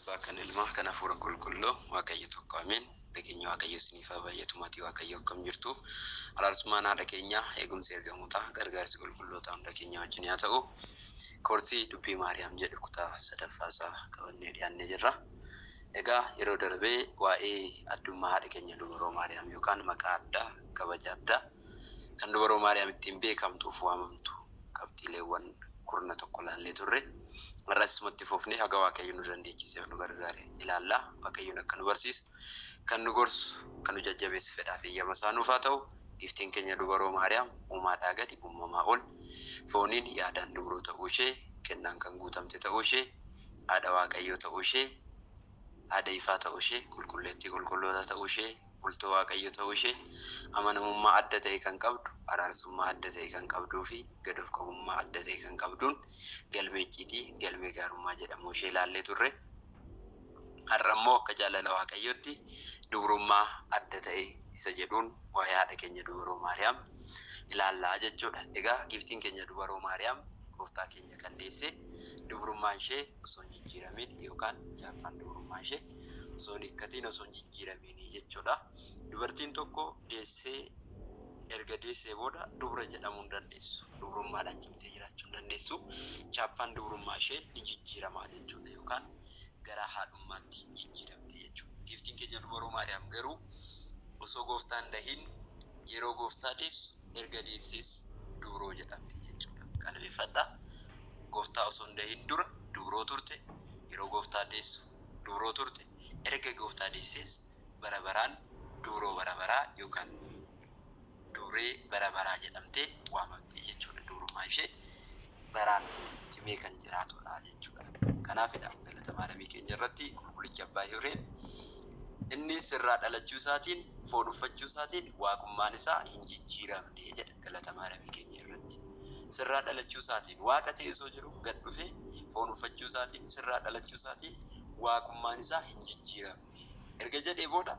Abbaa kan ilmaa kan hafuura qulqulluu waaqayyo tokko ameen nageenyi waaqayyo isiniif haa baay'atu maatii waaqayyo akkam jirtu araarsummaan haadha keenyaa eegumsi ergamootaa gargaarsi qulqullootaa hunda keenyaa wajjin yaa ta'u koorsii dubbii maariyaam jedhu kutaa sadaffaa isaa qabannee dhiyaannee jirra egaa yeroo darbee waa'ee addummaa haadha keenya dubaroo maariyaam yookaan maqaa addaa kabaja addaa kan dubaroo Maariyaam ittiin beekamtuuf waamamtu qabxiileewwan kurna tokko ilaallee turre. Har'as isuma itti fufnee haga Waaqayyo nu dandeechiseef nu gargaare ilaalla. Waaqayyoon akka nu barsiisu, kan nu gorsu, kan nu jajjabeessu fedhaaf eeyyama isaa nuuf haa ta'u. Giiftiin keenya dubaroo Maariyaam uumaadhaa gadi, uumamaa ol, fooniin, yaadaan dubroo ta'uu ishee, kennaan kan guutamte ta'uu ishee, haadha Waaqayyoo ta'uu ishee, haadha ifaa ta'uu ishee, qulqulleettii qulqullootaa ta'uu ishee, Bultoo Waaqayyoo ta'uu ishee, amanamummaa adda ta'e kan qabdu, araarsummaa adda ta'e kan qabduu fi gad of qabummaa adda ta'e kan qabduun galmee icciitii, galmee gaarummaa jedhamuu ishee ilaallee turre. Har'a immoo akka jaalala Waaqayyootti dubrummaa adda ta'e isa jedhuun waa'ee haadha keenya dubaroo Maariyaam ilaalla jechuu dha. Egaa Giiftiin keenya dubaroo Maariyaam Gooftaa keenya kan deesse dubrummaan ishee osoo hin jijjiiramiin yookaan chaappaan dubrummaa ishee, osoo hin hiikkatiin osoo hin jijjiiramiin jechuudha. Dubartiin tokko deessee erga deessee booda dubra jedhamuu hin dandeessu. Dubrummaadhaan cimtee jiraachuu hin dandeessu. Chaappaan dubrummaa ishee ni jijjiirama jechuudha yookaan gara haadhummaatti jijjiiramti jechuudha. Giiftiin keenya Dubaroo Maariyaam garuu osoo gooftaa hin dahiin yeroo gooftaa deessu erga deessees dubroo jedhamti jechuudha. Qalbeeffadhaa gooftaa osoo hin dahiin dura dubroo turte yeroo gooftaa deessu duuroo turte, erga Gooftaa deessees bara baraan duuroo bara baraa yookaan duuree bara baraa jedhamtee waamamti jechuu dha. Duurummaa ishee baraan cimee kan jiraatu dha jechuu dha. Kanaaf dha Galata Maaramii keenya irratti Qulqulichi Abbaa Hiwreen Inni sirraa dhalachuu isaatiin, foon uffachuu isaatiin Waaqummaan isaa hin jijjiiramne jedha. galatamaa Rabii keenya irratti. Sirraa dhalachuu isaatiin, Waaqa ta'ee osoo jiruu gad dhufee foon uffachuu isaatiin, sirraa dhalachuu isaatiin Waaqummaan isaa hin jijjiiramne. Erga jedhee booda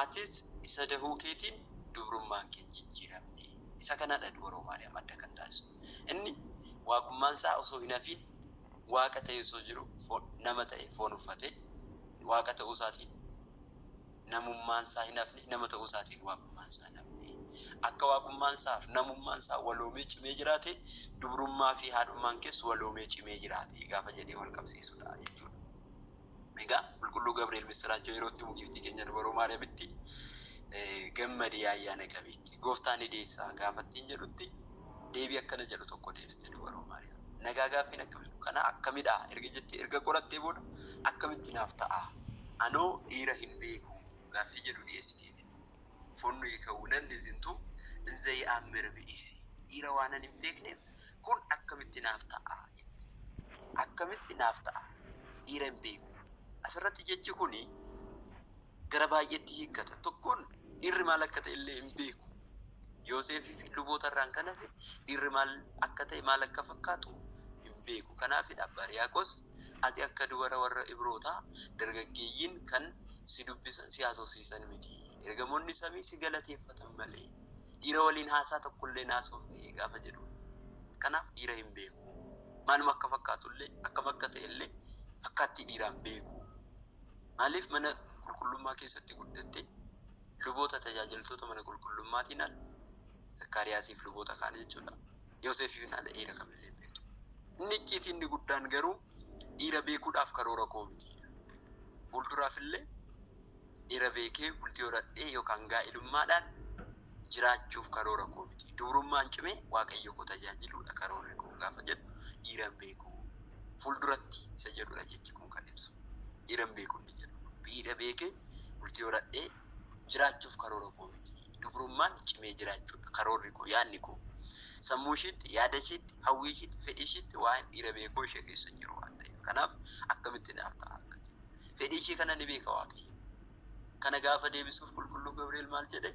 atis isa dahuu keetiin dubrummaan kee hin jijjiiramne. Isa kana dha dubaroo Maariyaam adda kan taasisu. Inni Waaqummaan isaa osoo hin hafiin Waaqa ta'ee osoo jiruu foon, nama ta'ee foon uffatee Waaqa ta'uu isaatiin namummaansaa hin hafne, nama ta'uusaatiin waaqummaansaa hin hafne. Akka waaqummaansaaf namummaansaa waloomee cimee jiraate, dubrummaafi haadhummaankees waloomee cimee jiraate gaafa jedhee walqabsiisudha jechuudha. Egaa Qulqulluu Gabri'eel missiraachoo yeroo itti himu Giiftii keenya Dubaroo Maariyamitti, Gammadi yaa ayyaana qabeetti! Gooftaa ni deessaa gaafa ittiin jedhutti, Deebii akkana jedhu tokko deebiste Dubaroo Maariyaam. Nagaa gaaffiin akkam jedhu kana akkamidha erga jettee erga qorattee booda akkamitti naaf ta'a anoo dhiira hin beeku gaaffii jedhu dhiyeessiteefi. Funnu yikawu nanni zintu nzei ammere bi'isi dhiira waanan hin beekneef kun akkamitti naaf ta'a jette. Akkamitti naaf ta'a dhiira hin beeku asirratti jechi kuni. gara baay'eetti hiikkata. Tokkoon dhiirri maal akka ta'e illee hin beeku. Yooseefii fi luboota irraan kan hafe dhiirri maal akka ta'e maal akka fakkaatu hin beeku. Kanaafidha Abbaa Riyaaqos ati akka dubara warra Ibrootaa dargaggeeyyiin kan si dubbisan si haasofsiisan miti. Ergamoonni samii si galateeffatan malee dhiira waliin haasaa tokko illee hin haasofne gaafa jedhuun. Kanaaf dhiira hin beeku. Maaluma akka fakkaatu illee akkam akka ta'e illee fakkaattii dhiiraa hin beeku. Maaliif mana qulqullummaa keessatti guddatte? Luboota tajaajiltoota mana qulqullummaatiin ala, Zakkaariyaasiif luboota kaan jechuudha, Yoosefiin ala dhiira kamillee hin beektu. Inni icciitii inni guddaan garuu dhiira beekuudhaaf karoora koo miti. Fuulduraaf illee dhiira beekee bultii horadhee yookaan gaa'ilummaadhaan jiraachuuf karoora koo miti. Dubrummaan cimee Waaqayyo koo tajaajiluu dha karoorri koo gaafa jettu dhiira hin beeku. Fuulduratti isa jedhu dha jechi kun kan ibsu. Dhiira hin beeku inni jedhu kun miidha beekee bultii horadhee jiraachuuf karoora koo miti. Dubrummaan cimee jiraachuu dha karoorri koo, yaadni koo. Sammuu ishiitti, yaada ishiitti, hawwii ishiitti, fedhii ishiitti waa'een dhiira beekuu ishee keessa hin jiru waan ta'eef. Kanaaf akkamitti naaf ta'a akka jedhu. Fedhii ishee kana ni beeka Waaqayyo. Kana gaafa deebisuuf Qulqulluu Gabri'eel maal jedhe?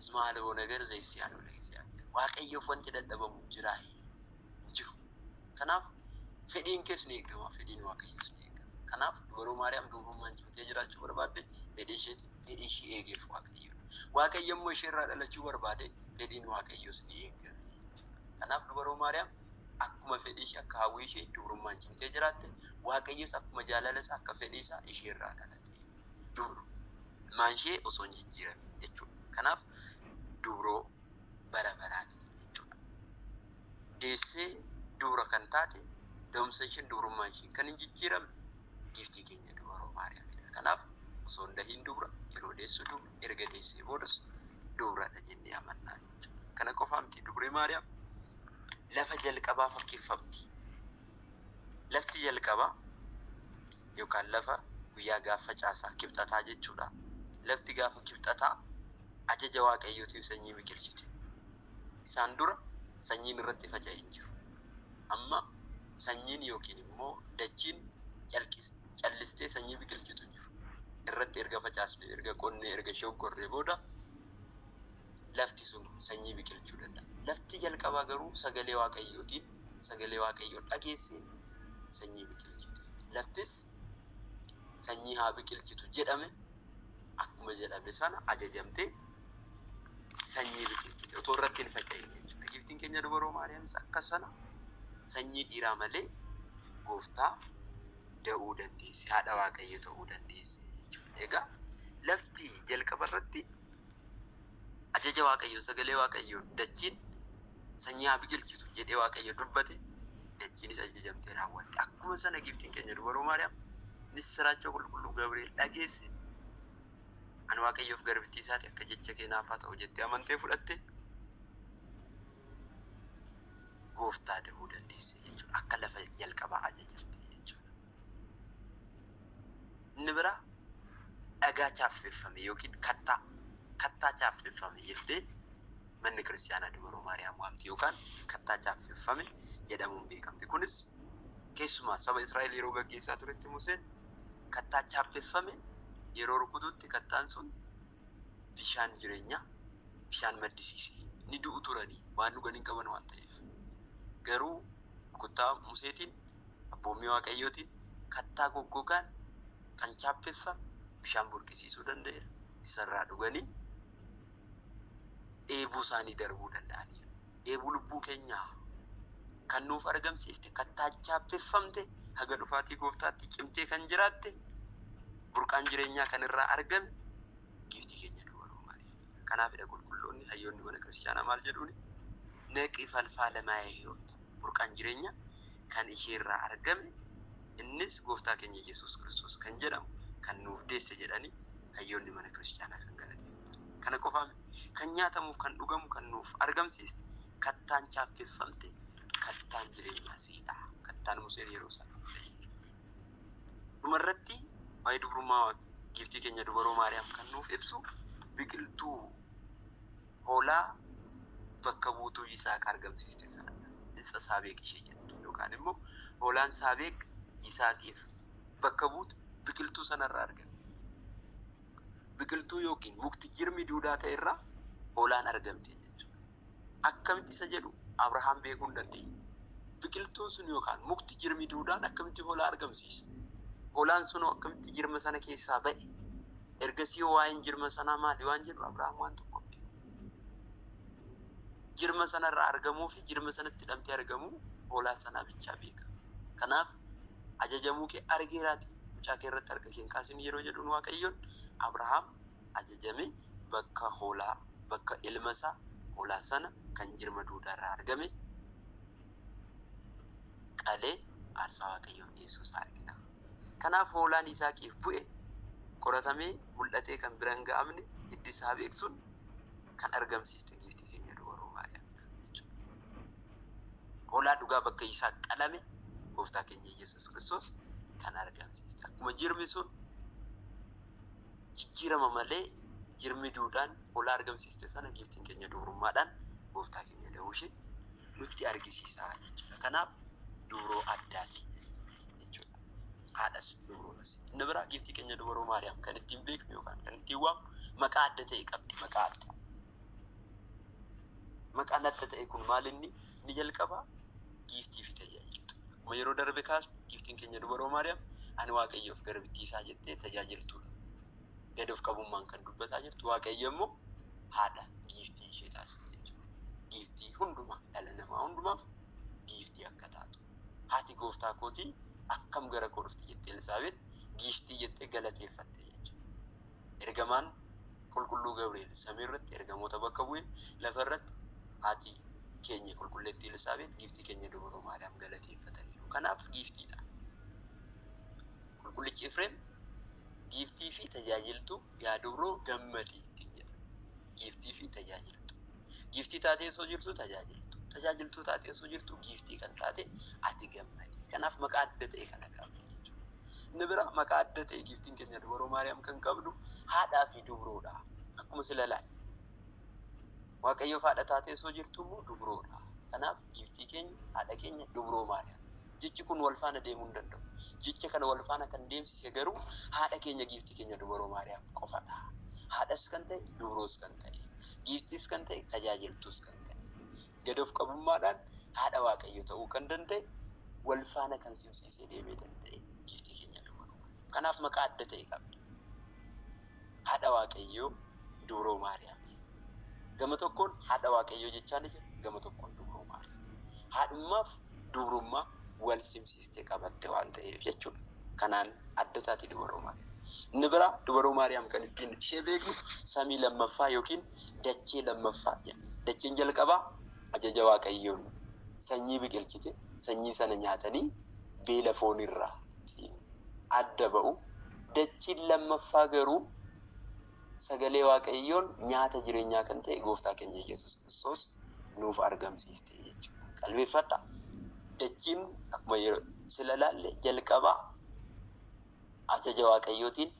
Isma alaboo nagar zeessiyaanoo leeziyaanoo. Waaqayyoof wanti dadhabamu hin jiraa? Hin jiru. Kanaaf fedhiin kees ni eegama, fedhiin Waaqayyoos ni eegama. Kanaaf dubaroo Maariyaam dubrummaan cimtee jiraachuu barbaadde fedhii isheetiin fedhii ishee eegeef Waaqayyo. Waaqayyo immoo isheerraa dhalachuu barbaade fedhiin Waaqayyoos ni eegame jechuudha. Kanaaf dubaroo Maariyaam akkuma fedhii ishee, akka hawwii ishee dubrummaan cimtee jiraatte, Waaqayyos akkuma jaalala isaa, akka fedhii isaa ishee irraa dhalate. Dubru maan ishee osoo hin jijjiiramin jechuudha. Kanaaf dubroo bara baraati jechuudha. Deessee dubra kan taate, da'umsa isheen dubrummaan isheen kan hin jijjiiramne giiftii keenya dubaroo Maariyaamidha. Kanaaf osoo hin dahiin dubra, yeroo deessu dubra, erga deessee boodas dubradha jennee amannaa jechuudha. Kana qofaa miti dubri Maariyaam lafa jalqabaa fakkeeffamti. Lafti jalqabaa yookaan lafa guyyaa gaafa caasaa kibxataa jechuudha. Lafti gaafa kibxataa ajaja waaqayyootiin sanyii biqilchite. Isaan dura sanyiin irratti faca'e hin jiru. Amma sanyiin yookiin immoo dachiin calqis callistee sanyii biqilchitu jiru irratti erga facaasnee, erga qonnee, erga shoggorree booda lafti sun sanyii biqilchuu danda'a. Lafti jalqabaa garuu sagalee Waaqayyootiin sagalee Waaqayyoo dhageessee sanyii biqilchite. Laftis sanyii haa biqilchitu jedhame akkuma jedhame sana ajajamtee sanyii biqilchite otoo irratti hin faca'in jechuudha. Giiftiin keenya dubaroo Maariyaamis akka sana sanyii dhiiraa malee gooftaa da'uu dandeesse, haadha waaqayyo ta'uu dandeesse jechuudha. Egaa lafti jalqaba irratti ajaja waaqayyoon sagalee waaqayyoon dachiin sanyii haa biqilchitu jedhee waaqayyo dubbate dachiinis ajajamtee raawwatte. Akkuma sana giiftiin keenya dubaroo Maariyaam missiraachoo qulqulluu Gabri'eel dhageesse Ani Waaqayyoo fi garbittii isaa ti, akka jecha kee naaf haa ta'u jettee amantee fudhatte, gooftaa dahuu dandeesse jechuudha. Akka lafa jalqabaa ajajamte jechuudha. Inni biraa dhagaa chaaffeffame yookiin kattaa kattaa chaaffeffame jettee manni kiristaanaa dubaroo Maariyaam waamti yookaan kattaa chaaffeffame jedhamuun beekamti. Kunis keessumaa saba Israa'el yeroo gaggeessaa turetti Museen Kattaa chaappeffame yeroo rukututti kattaan sun bishaan jireenyaa bishaan maddisiise. Ni du'u turani, waan dhugan hin qaban waan ta'eef. Garuu rukuttaa Museetiin, abboommii Waaqayyootiin kattaa goggogaan kan chaappeffame bishaan burqisiisuu danda'eera. Isa irraa dhuganii dheebuu isaanii darbuu danda'aniiru. dheebuu lubbuu keenyaa kan nuuf argamsiiste, kattaa chaappeffamte, haga dhufaatii Gooftaatti cimtee kan jiraatte, burqaan jireenyaa kan irraa argame giiftii keenya Durbaa Roomaanii. Kanaafidha qulqulloonni, hayyoonni mana kiristiyaanaa maal jedhuuni? Naqi falfaala maa'ee hiyoot, burqaan jireenyaa kan ishee irraa argame, innis Gooftaa keenya Iyyasuus Kiristoos kan jedhamu kan nuuf deesse jedhanii hayyoonni mana kiristiyaanaa kan galateeffatan. Kana qofaa miti. kan nyaatamuuf kan dhugamu kan nuuf argamsiiste kattaan chaappeffamte kattaan jireenyaa siidha kattaan museen yeroo isaa fudhate dhuma irratti waa'ee dubrummaa giiftii keenya dubaroo maariyaam kan nuuf ibsu biqiltuu hoolaa bakka buutuu Yisaaq argamsiiste sanadha. Isa Saabeeq ishee jettu yookaan immoo hoolaan Saabeeq Yisaaqiif bakka buutu biqiltuu sanarraa argame. biqiltuu yookiin mukti jirmi duudaa ta'e irraa hoolaan argamte jechuudha. Akkamitti isa jedhu Abrahaam beekuu hin dandeenye. Biqiltuun sun yookaan mukti jirmi duudaan akkamitti hoolaa argamsiisa? Hoolaan sunoo akkamitti jirma sana keessaa ba'e? Ergasii hoo waa'een jirma sanaa maali waan jedhu Abrahaam waan tokko hin beeku. Jirma sanarraa argamuu fi jirma sanatti hidhamtee argamuu hoolaa sanaa bichaa beeka. Kanaaf ajajamuu kee argeeraatii, mucaa kee irratti harka kee hin kaasin yeroo jedhuun Waaqayyoon, Abrahaam ajajamee bakka hoolaa, bakka ilma isaa hoolaa sana kan jirma duudaa irraa argame qalee aarsaa Waaqayyoof dhiyeessuu isaa argina. Kanaaf hoolaan Yisaaqiif bu'e qoratamee mul'atee kan bira hin ga'amne hiddi isaa beeksuun kan argamsiiste giiftii keenya dubaroo Maariyaamidha jechuudha. Hoolaa dhugaa bakka isaa qalame Gooftaa keenya Yesuus Kiristoos kan argamsiiste. Akkuma jirmi sun jijjiirama malee jirmi duudhaan hoolaa argamsiiste sana giiftiin keenya dubrummaadhaan Gooftaa keenya da'uu ishee nutti argisiisa jechuudha. Kanaaf dubroo addaati jechuudha. Haadhas dubrootas. Inni biraa giiftii keenya dubaroo Maariyaam kan ittiin beeknu yookaan kan ittiin waamnu maqaa adda ta'e qabdi. Maqaa addaa. Maqaan adda ta'e kun maal inni? Inni jalqabaa giiftii fi tajaajiltu. Akkuma yeroo darbe kaasne giiftiin keenya dubaroo Maariyaam ani Waaqayyoof garbittii isaa jettee tajaajiltuudha. Gad of qabummaan kan dubbataa jirtu Waaqayyo immoo haadha giiftii ishee taasise jechuudha. Giiftii hundumaa dhala namaa hundumaaf giiftii akka taatu. Haati gooftaa kootii akkam gara koo dhufti jettee Elsaabeet giiftii jettee galateeffatte jechuudha. Ergamaan Qulqulluu Gabri'eel samii irratti ergamoota bakka bu'e, lafa irratti Haati keenya Qulqulleettii Elsaabeex, Giiftii keenya Dubroo Maariyaam galateeffataniiru. Kanaaf Giiftiidha. Qulqullichi Efreem Giiftii fi tajaajiltuu yaa Dubroo gammadi ittiin jedha. Giiftii fi tajaajiltuu. Giiftii taatee osoo jirtuu tajaajiltuu. Tajaajiltuu taatee osoo jirtuu Giiftii kan taate ati gammadi. Kanaaf maqaa adda ta'e kana qabdi jechuudha. Inni biraa maqaa adda ta'e giiftiin keenya dubaroo Maariyaam kan qabdu haadhaa fi dubroodha. Akkuma sila laal. Waaqayyoof haadha taatee osoo jirtu immoo dubroodha. Kanaaf giiftii keenya haadha keenya dubroo Maariyaam. Jechi kun wal faana deemuu hin danda'u. Jecha kana wal faana kan deemsise garuu haadha keenya giiftii keenya dubaroo Maariyaam qofadha. Haadhas kan ta'e dubroos kan ta'e giiftiis kan ta'e tajaajiltuus kan ta'e. gad of qabummaadhaan haadha Waaqayyoo ta'uu kan danda'e wal faana kan simsiisee deemee danda'e giiftii keenya dubroo Maariyaam. Kanaaf maqaa adda ta'e qabdi. Haadha Waaqayyoo dubroo Maariyaam jedhama. Gama tokkoon haadha Waaqayyoo jechaa ni jira, gama tokkoon dubroo Maariyaam. Haadhummaaf dubrummaa wal simsiistee qabatte waan ta'eef jechuudha. Kanaan adda taati Dubaroo Maariyaam. Inni biraa Dubaroo Maariyaam kan ittiin ishee beeknu samii lammaffaa yookiin dachee lammaffaa jenna. Dacheen jalqabaa ajaja Waaqayyoon sanyii biqilchite, sanyii sana nyaatanii beela foonirraa ittiin adda ba'u. Dachiin lammaffaa garuu Sagalee Waaqayyoon nyaata jireenyaa kan ta'e Gooftaa keenya Yesuus Kiristoos nuuf argamsiiste jechuudha. Qalbeeffadhaa! Dachiin akkuma yeroo sila ilaalle jalqaba ajaja Waaqayyootiin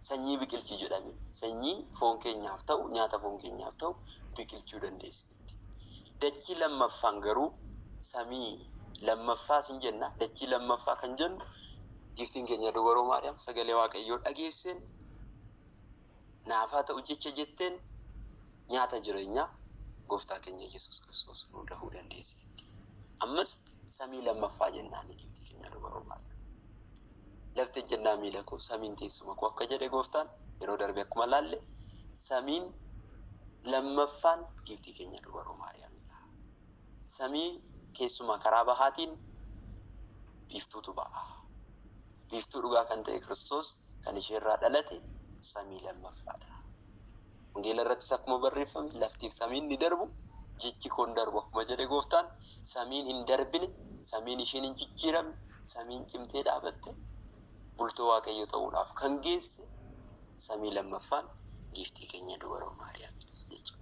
sanyii biqilchi jedhame. Sanyii foon keenyaaf ta'u, nyaata foon keenyaaf ta'u biqilchuu dandeesseetti. Dachii lammaffaan garuu samii lammaffaa sin jenna. Dachii lammaffaa kan jennu giftiin keenya dubaroo Maariyaam sagalee Waaqayyoo dhageesseen naaf haa ta'u jecha jetteen nyaata jireenyaa gooftaa keenya Yesuus Kiristoos nuu dahuu dandeesseetti. Ammas samii lammaffaa jennaani giiftii keenya dubaroo Maariyaam. Lafti ejjennaa miila koo, samiin teessuma koo akka jedhe gooftaan yeroo darbe akkuma laalle samiin lammaffaan giiftii keenya dubaroo Maariyaamidha. Samii keessumaa karaa bahaatiin biiftuutu ba'a. Biiftuu dhugaa kan ta'e Kiristoos kan isheerraa dhalate samii lammaffaadha. Wangeela irrattis akkuma barreeffame laftiif samiin ni darbu, jechi koo hin darbu akkuma jedhe gooftaan samiin hin darbine, samiin isheen hin jijjiiramne, samiin cimtee dhaabatte bultoo waaqayyo ta'uudhaaf kan geesse samii lammaffaan giiftii keenya dubaroo Maariyaamidha jechuudha.